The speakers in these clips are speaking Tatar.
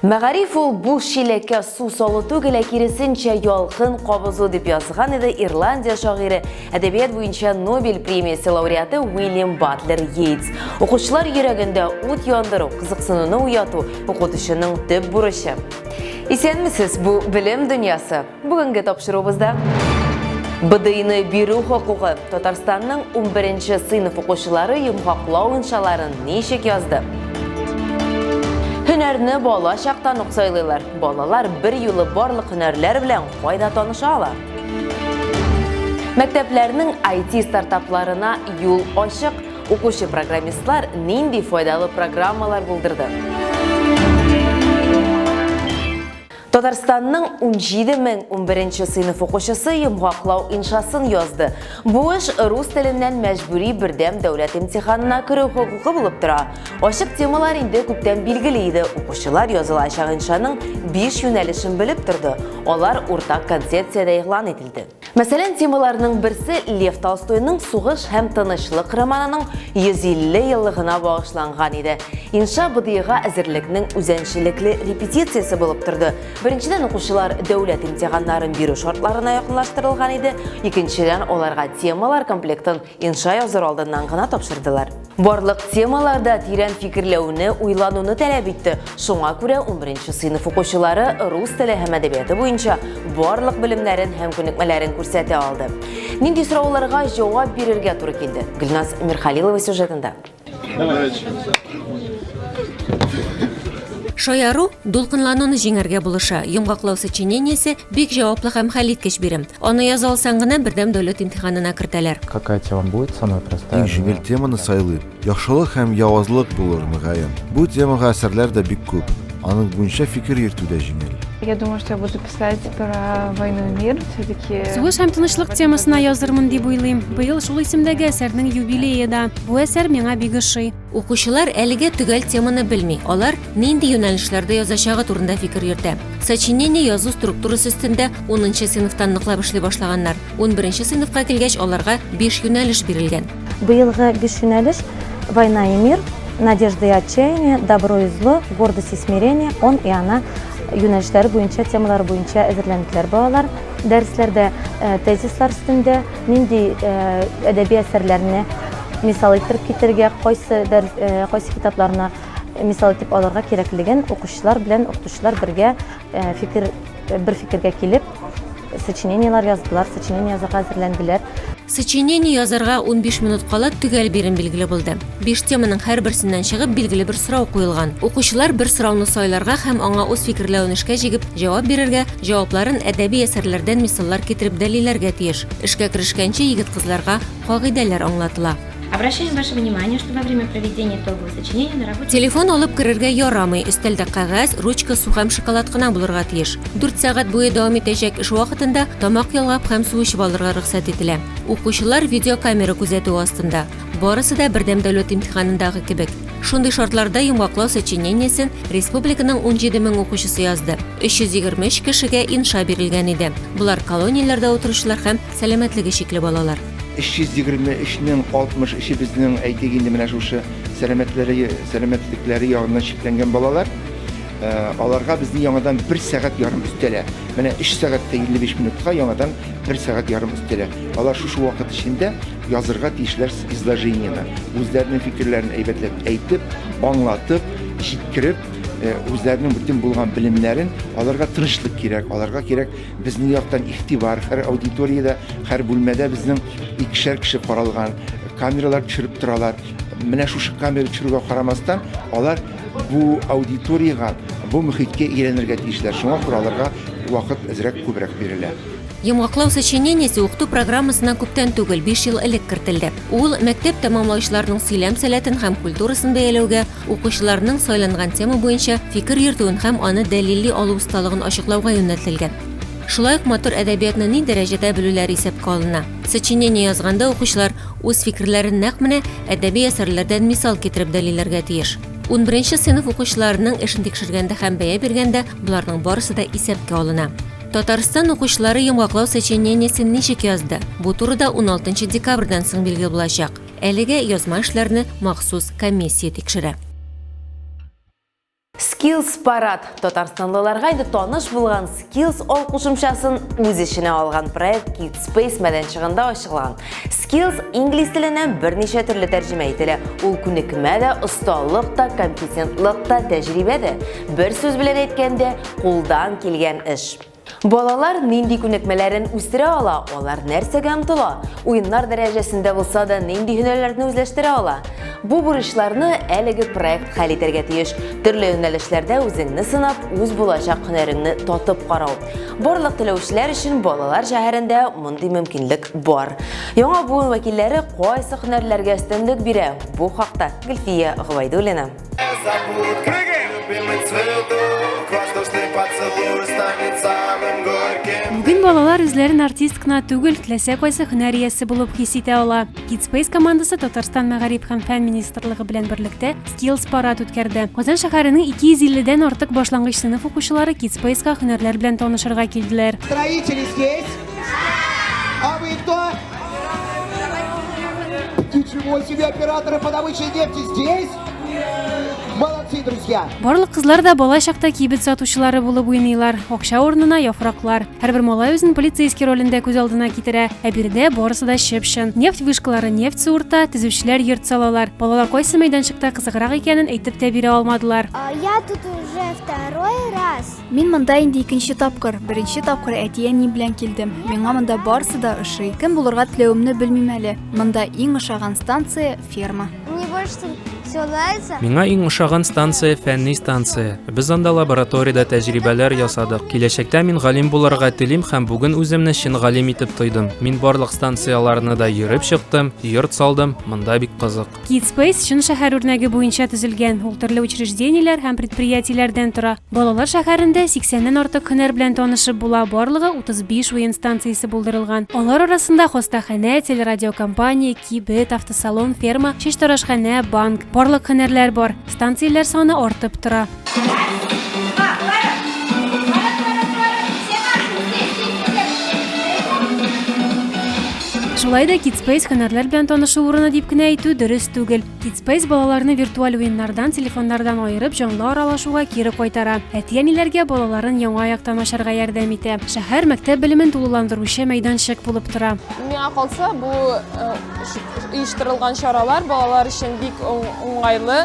Мәгариф ул бу чиләккә су салу түгел, ә киресенчә ялкын кабызу, дип язган иде Ирландия шагыйре, әдәбият буенча Нобель премиясе лауреаты Уильям Батлер Йейтс. Укучылар йөрәгендә ут яндыру, кызыксынуны уяту, укытучының төп бурычы. Исәнмесез, бу белем дөньясы. Бүгенге тапшыруыбызда БДИны бирү хокукы Татарстанның 11-нче сыйныф укучылары йомгаклау иншаларын ничек язды? Һөнәрне бала чактан ук сайлыйлар. Балалар бер юлы барлык һөнәрләр белән кайда таныша ала? Мәктәпләрнең IT стартапларына юл ачык. Укучы программистлар нинди файдалы программалар булдырды? Татарстанның унҗиде мең унберенче сыйныф укучысы йомгаклау иншасын язды. Бу эш рус теленнән мәҗбүри бердәм дәүләт имтиханына керү хокукы булып тора. Ачык темалар инде күптән билгеле иде, укучылар язылачак иншаның биш юнәлешен белеп торды, алар уртак концепциядә игълан ителде. Мәсәлән, темаларның берсе Лев Толстойның Сугыш һәм тынычлык романының 150 еллыгына багышланган иде. Инша БДИга әзерлекнең үзенчәлекле репетициясе булып торды. Беренчедән, укучылар дәүләт имтиханнарын бирү шартларына якынлаштырылган иде, икенчедән, аларга темалар комплектын Инша языр алдыннан гына тапшырдылар. Барлык темаларда тирән фикерләүне, уйлануны таләп итте. Шуңа күрә 11 сыйныф укучылары рус теле һәм әдәбияты буенча барлык белемнәрен һәм күнекмәләрен күрсәтә алды. Нинди сорауларга җавап бирергә туры килде? Гөлназ Мирхалилова сюжетында. Шаяру дулкынлануны җиңәргә булыша. Йомгаклау сочинениесе бик җаваплы һәм хәлиткеч бирем. Аны яза алсаң гына бердәм дәүләт имтиханына кертәләр. Какая тема будет самая простая? Иң җиңел теманы сайлыйм. Яхшылык һәм явазлык булыр, мөгаен. Бу темага әсәрләр дә бик күп. Аның буенча фикер йөртү дә җиңел. Я думаю, что я буду Кстати, про войну и мир все-таки... Сугыш һәм тынычлык темасына язырмын дип уйлыйм. Быел шул исемдәге әсәрнең юбилее да. Бу әсәр миңа бик ошый. Укучылар әлегә төгәл теманы белми. Алар нинди юнәлешләрдә язачагы турында фикер йөртә. Сочинение язу структурасы өстендә 10 сыйныфтан ныклап эшли башлаганнар. 11 сыйныфка килгәч, аларга 5 юнәлеш бирелгән. Быелгы биш юнәлеш Война и мир, Надежда и отчаяние, Добро и зло, Гордость и смирение, Он и она юнәлешләре буенча, темалары буенча әзерләнделәр балалар. Дәресләрдә э, тезислар өстендә нинди э, әдәби әсәрләрне мисал иттереп китерергә, кайсы дәрес, э, кайсы китапларны мисал итеп алырга кирәклеген укучылар белән укытучылар бергә фикер бер фикергә килеп сочинениелар яздылар, сочинение язарга әзерләнделәр. Сочинение язарга унбиш минут кала төгәл бирем билгеле булды. Биш теманың һәрберсеннән чыгып билгеле бер сорау куелган. Укучылар бер сорауны сайларга һәм аңа үз фикерләвен эшкә җигеп җавап бирергә, җавапларын әдәби әсәрләрдән мисаллар китереп дәлилләргә тиеш. Эшкә керешкәнче егет-кызларга кагыйдәләр аңлатыла. Обращаем ваше внимание, что во время проведения итогового сочинения на работе... Телефон алып керергә ярамый, өстәлдә кәгазь, ручка, су һәм шоколад кына булырга тиеш. 4 сәгать буе дәвам итәчәк эш вакытында тамак ялгап һәм су эчеп алырга рөхсәт ителә. Укучылар видеокамера күзәтү астында. Барысы да бердәм дәүләт имтиханындагы кебек. Шундый шартларда йомгаклау сочинениесен республиканың 17 мең укучысы язды. 323 кешегә инша бирелгән иде. Болар колонияләрдә утыручылар һәм сәламәтлеге чикле балалар. 323 нең 63-е безнең, әйтик инде, менә шушы сәламәтләре, сәламәтлекләре ягыннан чикләнгән балалар. Э, аларга безне яңадан бер сәгать ярым өстәлә. Менә 3 сәгатьтә 55 минутка яңадан бер сәгать ярым өстәлә. Алар шушы вакыт эчендә язырга тиешләр изложениене, үзләренең фикерләрен әйбәтләп әйтеп, аңлатып, җиткереп, э, үзләренең бөтен булган белемнәрен аларга тынычлык кирәк, аларга кирәк Безнең яктан игътибар, һәр аудиториядә, һәр бүлмәдә безнең икешәр кеше каралган, камералар төшереп торалар. Менә шушы камера төшерүгә карамастан, алар бу аудиториягә, бу мөхиткә өйрәнергә тиешләр. Шуңа күрә аларга вакыт әзрәк күбрәк бирелә. Йомгаклау сочинениесе укыту программасына күптән түгел, биш ел элек кертелде. Ул мәктәп тәмамлаучыларның сөйләм сәләтен һәм культурасын бәяләүгә, укучыларның сайланган тема буенча фикер йөртүен һәм аны дәлилли алу осталыгын ачыклауга юнәлтелгән. Шулай ук матур әдәбиятны ни дәрәҗәдә белүләре исәпкә алына. Сочинение язганда укучылар үз фикерләрен нәкъ менә әдәби әсәрләрдән мисал китереп дәлилләргә тиеш. Унберенче сыйныф укучыларының эшен тикшергәндә һәм бәя биргәндә боларның барысы да исәпкә алына. Татарстан укучылары йомгаклау сочинениесен ничек язды? Бу турыда уналтынчы декабрьдән соң билгеле булачак. Әлегә язма эшләрне махсус комиссия тикшерә. Skills Парад татарстанлыларга инде таныш булган Skills ал кушымчасын үз эченә алган проект Kid Space мәйданчыгында ачылган. Skills инглиз теленә берничә төрле тәрҗемә ителә. Ул күнекмә дә, осталык та, компетентлык та, тәҗрибә дә. Бер сүз белән әйткәндә, кулдан килгән эш. Балалар нинди күнекмәләрен үстерә ала, алар нәрсәгә омтыла, уеннар дәрәҗәсендә булса да нинди һөнәрләрне үзләштерә ала? Бу бурычларны әлеге проект хәл итәргә тиеш. Төрле юнәлешләрдә үзеңне сынап, үз булачак һөнәреңне татып карау. Барлык теләүчеләр өчен балалар шәһәрендә мондый мөмкинлек бар. Яңа буын вәкилләре кайсы һөнәрләргә өстенлек бирә? Бу хакта Гөлфия Гобайдуллина. Бүген балалар үзләрен артист кына түгел, теләсә кайсы һөнәр иясе булып хис итә ала. Kidspace командасы Татарстан мәгариф һәм фән министрлыгы белән берлектә Skills парад үткәрде. Казан шәһәренең 250 дән артык башлангыч сыйныф укучылары Kidspace-га һөнәрләр белән танышырга килделәр. Строители здесь. А вы кто? Ничего себе, операторы по добыче нефти здесь? Молодцы, друзья! Барлык кызлар да бала чакта кибет сатучылары булып уйныйлар. Акча урынына яфраклар. Һәрбер малай үзен полицейский ролендә күз алдына китерә. Ә биредә барысы да чып-чын. Нефть вышкалары нефть суырта, төзүчеләр йорт салалар. Балалар кайсы мәйданчыкта кызыграк икәнен әйтеп тә бирә алмадылар. А, Я тут уже второй раз. Мин монда инде икенче тапкыр. Беренче тапкыр әти-әни белән килдем. Миңа монда барсы да ошый. Кем булырга теләвемне белмим әле. Монда иң ошаган станция ферма. Мне больше все нравится. Миңа иң ошаган станция фәнни станция. Без анда лабораториядә тәҗрибәләр ясадык. Киләчәктә мин галим булырга телим һәм бүген үземне чын галим итеп тойдым. Мин барлык станцияләрне дә йөреп чыктым, йорт салдым. Монда бик кызык. Kidspace чын шәһәр үрнәге буенча төзелгән. Ул төрле учреждениеләр һәм предприятиеләрдән тора. Балалар шәһәрендә 80-нән артык һөнәр белән танышып була. Барлыгы 35 уен станциясе булдырылган. Алар арасында хостаханә, телерадиокомпания, кибет, автосалон, ферма, чәчтарашханә, банк, барлык һөнәрләр бар. Станцияләр саны артып тора. Шулай да Kidspace һөнәрләр белән танышу урыны дип кенә әйтү дөрес түгел. Kidspace балаларны виртуаль уеннардан, телефоннардан аерып, җанлы аралашуга кире кайтара. Әти-әниләргә балаларын яңа яктан ачарга ярдәм итә. Шәһәр мәктәп белемен тулыландыручы мәйданчык булып тора. Миңа калса, бу оештырылган чаралар балалар өчен бик уңайлы.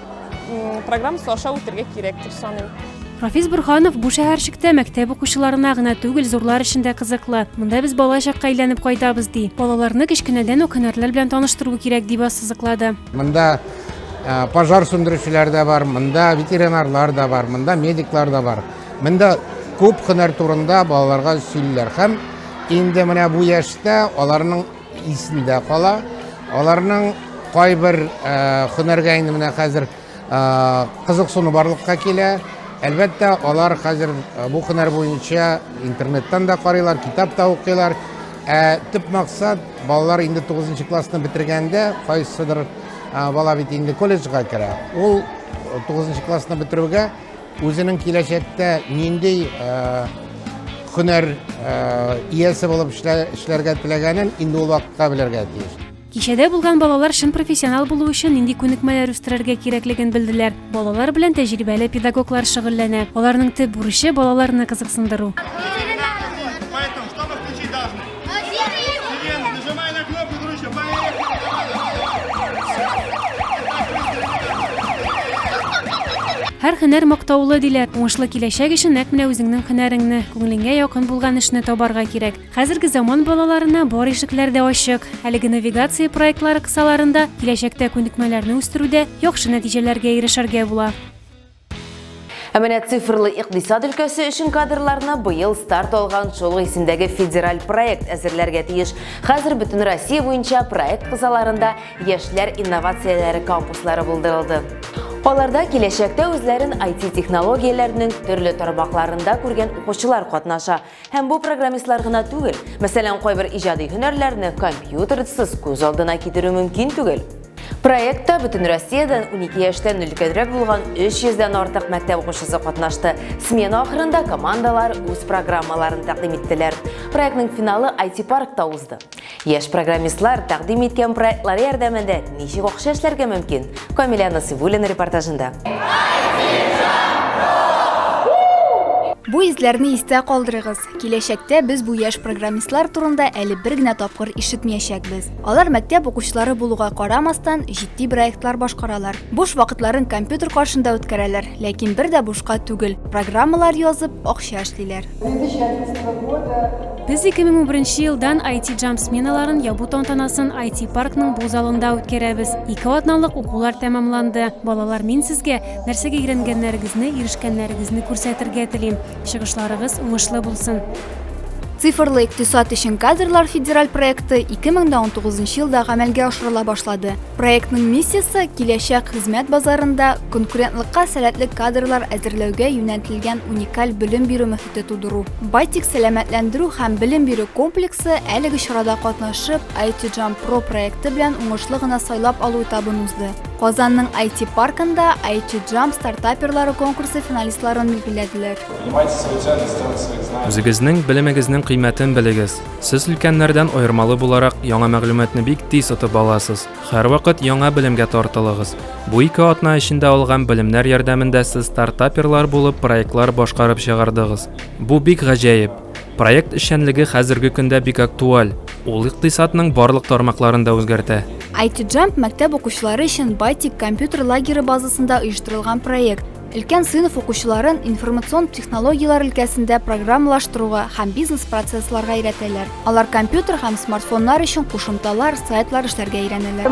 программасы аша үтергә кирәк дип саныйм Рафис Бурханов бу шәһәрчектә мәктәп укучыларына гына түгел, зурлар өчен дә кызыклы. Монда без бала чакка әйләнеп кайтабыз ди. Балаларны кечкенәдән үк һөнәрләр белән таныштыру кирәк дип ассызыклады. Монда э, пожар сүндерүчеләр дә бар, монда ветеринарлар да бар, монда медиклар да бар. Монда күп һөнәр турында балаларга сөйлиләр һәм инде менә бу яшьтә аларның Исендә кала. Аларның кайбер һөнәргә инде менә хәзер кызыксыну барлыкка килә. Әлбәттә, алар хәзер бу һөнәр буенча интернеттан да карыйлар, китап та укыйлар. Ә төп максат балалар инде 9 классны бетергәндә, кайсыдыр бала бит инде колледжга керә. Ул 9 классны бетерүгә Үзенең киләчәктә нинди һөнәр иясе булып эшләргә теләгәнен инде ул вакытта белергә тиеш. Кичәдә булган балалар чын профессионал булу өчен нинди күнекмәләр үстерергә кирәклеген белделәр. Балалар белән тәҗрибәле педагоглар шөгыльләнә. Аларның төп бурычы балаларны кызыксындыру. Һәр һөнәр мактаулы диләр. Уңышлы киләчәк өчен нәкъ менә үзеңнең һөнәреңне, күңелеңә якын булган эшне табарга кирәк. Хәзерге заман балаларына бар ишекләр дә ачык. Әлеге навигация проектлары кысаларында киләчәктә күнекмәләрне үстерүдә яхшы нәтиҗәләргә ирешергә була. Ә менә цифрлы икъдисад өлкәсе өчен кадрларны быел старт алган шул исемдәге федераль проект әзерләргә тиеш. Хәзер бөтен Россия буенча проект кысаларында яшьләр инновацияләре кампуслары булдырылды. Аларда киләчәктә үзләрен IT-технологияләрнең төрле тармакларында күргән укучылар катнаша. Һәм бу программистлар гына түгел. Мәсәлән, кайбер иҗади һөнәрләрне компьютерсыз күз алдына китерү мөмкин түгел. Проектта бөтен Россиядән 12 яшьтән өлкәнрәк булган 300 дән артык мәктәп укучысы катнашты. Смена ахырында командалар үз программаларын тәкъдим иттеләр. Проектның финалы IT-паркта узды. Яшь программистлар тәкъдим иткән проектлары ярдәмендә ничек акча эшләргә мөмкин? Камилә Насыйбуллина репортажында. Бу изләрне истә калдырыгыз. Киләчәктә без бу яшь программистлар турында әле бер генә тапкыр ишетмәячәкбез. Алар мәктәп укучылары булуга карамастан, җитди проектлар башкаралар. Буш вакытларын компьютер каршында үткәрәләр, ләкин бер дә бушка түгел, программалар язып, акча эшлиләр. Без 2011 елдан IT Jump сменаларын ябу тантанасын IT паркның бу залында үткәрәбез. Ике атналык укулар тәмамланды. Балалар, мин сезгә нәрсәгә өйрәнгәннәрегезне, ирешкәннәрегезне күрсәтергә телим. Чыгышларыгыз уңышлы булсын! Цифрлы икътисад өчен кадрлар федераль проекты 2019 елда гамәлгә ашырыла башлады. Проектның миссиясе киләчәк хезмәт базарында конкурентлыкка сәләтле кадрлар әзерләүгә юнәлтелгән уникаль белем бирү мөхите тудыру. Байтик сәламәтләндерү һәм белем бирү комплексы әлеге чарада катнашып, IT Jump Pro проекты белән уңышлы гына сайлап алу этабын узды. Казанның IT паркында IT Jump стартаперлары конкурсы финалистларын билгеләделәр. Үзегезнең белемегезнең кыйммәтен белегез. Сез өлкәннәрдән аермалы буларак яңа мәгълүматны бик тиз отып аласыз. Һәрвакыт яңа белемгә тартылыгыз. Бу ике атна эчендә алган белемнәр ярдәмендә сез стартаперлар булып проектлар башкарып чыгардыгыз. Бу бик гаҗәеп! Проект эшчәнлеге хәзерге көндә бик актуаль. Ул икътисадның барлык тармакларын да үзгәртә. IT Jump мәктәп укучылары өчен Байтик компьютер лагеры базасында оештырылган проект. Өлкән сыйныф укучыларын информацион технологияләр өлкәсендә программалаштыруга һәм бизнес-процессларга өйрәтәләр. Алар компьютер һәм смартфоннар өчен кушымталар, сайтлар эшләргә өйрәнәләр.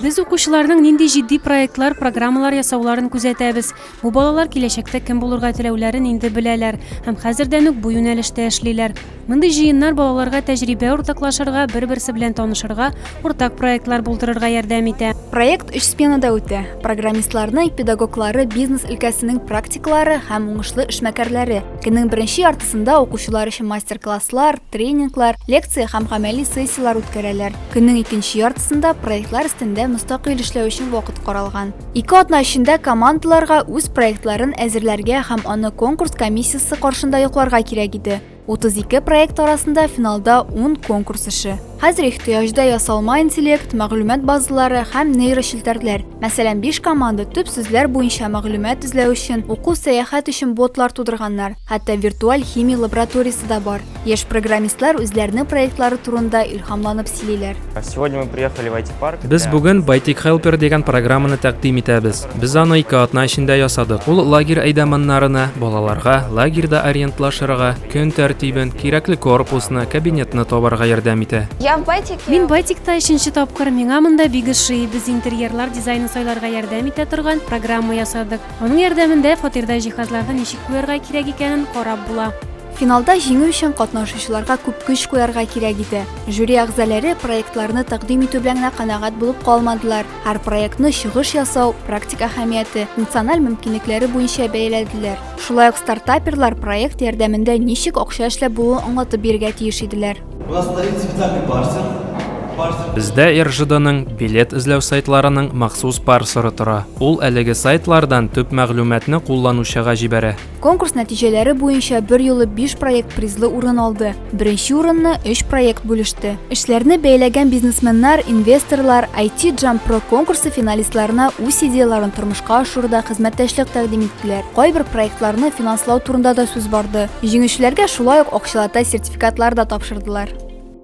Без укучыларның нинди җитди проектлар, программалар ясауларын күзәтәбез. Бу балалар киләчәктә кем булырга теләүләрен инде беләләр һәм хәзердән үк бу юнәлештә эшлиләр. Мондый җыеннар балаларга тәҗрибә уртаклашырга, бер-берсе белән танышырга, уртак проектлар булдырырга ярдәм итә. Проект өч сменада үтә. Программистларны, педагоглары, бизнес өлкәсенең практиклары һәм уңышлы эшмәкәрләре. Көннең беренче яртысында укучылар өчен мастер-класслар, тренинглар, лекция һәм гамәли сессияләр үткәрәләр. Көннең икенче яртысында проектлар өстендә мөстәкыйль эшләү өчен вакыт каралган. Ике атна эчендә командаларга үз проектларын әзерләргә һәм аны конкурс комиссиясе каршында йокларга кирәк иде. 32 проект арасында финалда 10 конкурс эше. Хәзер ихтыяҗда ясалма интеллект, мәгълүмат базалары һәм нейрочелтәрләр. Мәсәлән, 5 команда төп сүзләр буенча мәгълүмат эзләү өчен, уку-сәяхәт өчен ботлар тудырганнар, хәтта виртуаль химия лабораториясе дә бар. Яшь программистлар үзләренең проектлары турында илһамланып сөйлиләр. Без бүген Байтик Хелпер дигән программаны тәкъдим итәбез. Без аны ике атна эчендә ясадык. Ул лагерь әйдәманнарына, балаларга, лагерьда ориентлашырга, көн тәртибен, кирәкле корпусны, кабинетны табарга ярдәм итә. Мин Байтикта өченче тапкыр, миңа монда бик ошый. Без интерьерлар дизайнын сайларга ярдәм итә торган программа ясадык. Аның ярдәмендә фатирда җиһазларны ничек куярга кирәк икәнен карап була. Финалда җиңү өчен катнашучыларга күп көч куярга кирәк иде. Жюри әгъзаләре проектларны тәкъдим итү белән генә канәгать булып калмадылар, һәр проектны чыгыш ясау, практик әһәмияте, функциональ мөмкинлекләре буенча бәяләделәр. Шулай ук стартаперлар проект ярдәмендә ничек акча эшләп булуын аңлатып бирергә тиеш иделәр. У нас стоит специальный парсер. Бездә РЖДның билет эзләү сайтларының махсус парсеры тора. Ул әлеге сайтлардан төп мәгълүматны кулланучыга җибәрә. Конкурс нәтиҗәләре буенча берьюлы биш проект призлы урын алды. Беренче урынны өч проект бүлеште. Эшләрне бәйләгән бизнесменнар, инвесторлар IT Jump Pro конкурсы финалистларына үз идеяләрен тормышка ашыруда хезмәттәшлек тәкъдим иттеләр. Кайбер проектларны финанслау турында да сүз барды. Җиңүчеләргә шулай ук акчалата сертификатлар да тапшырдылар.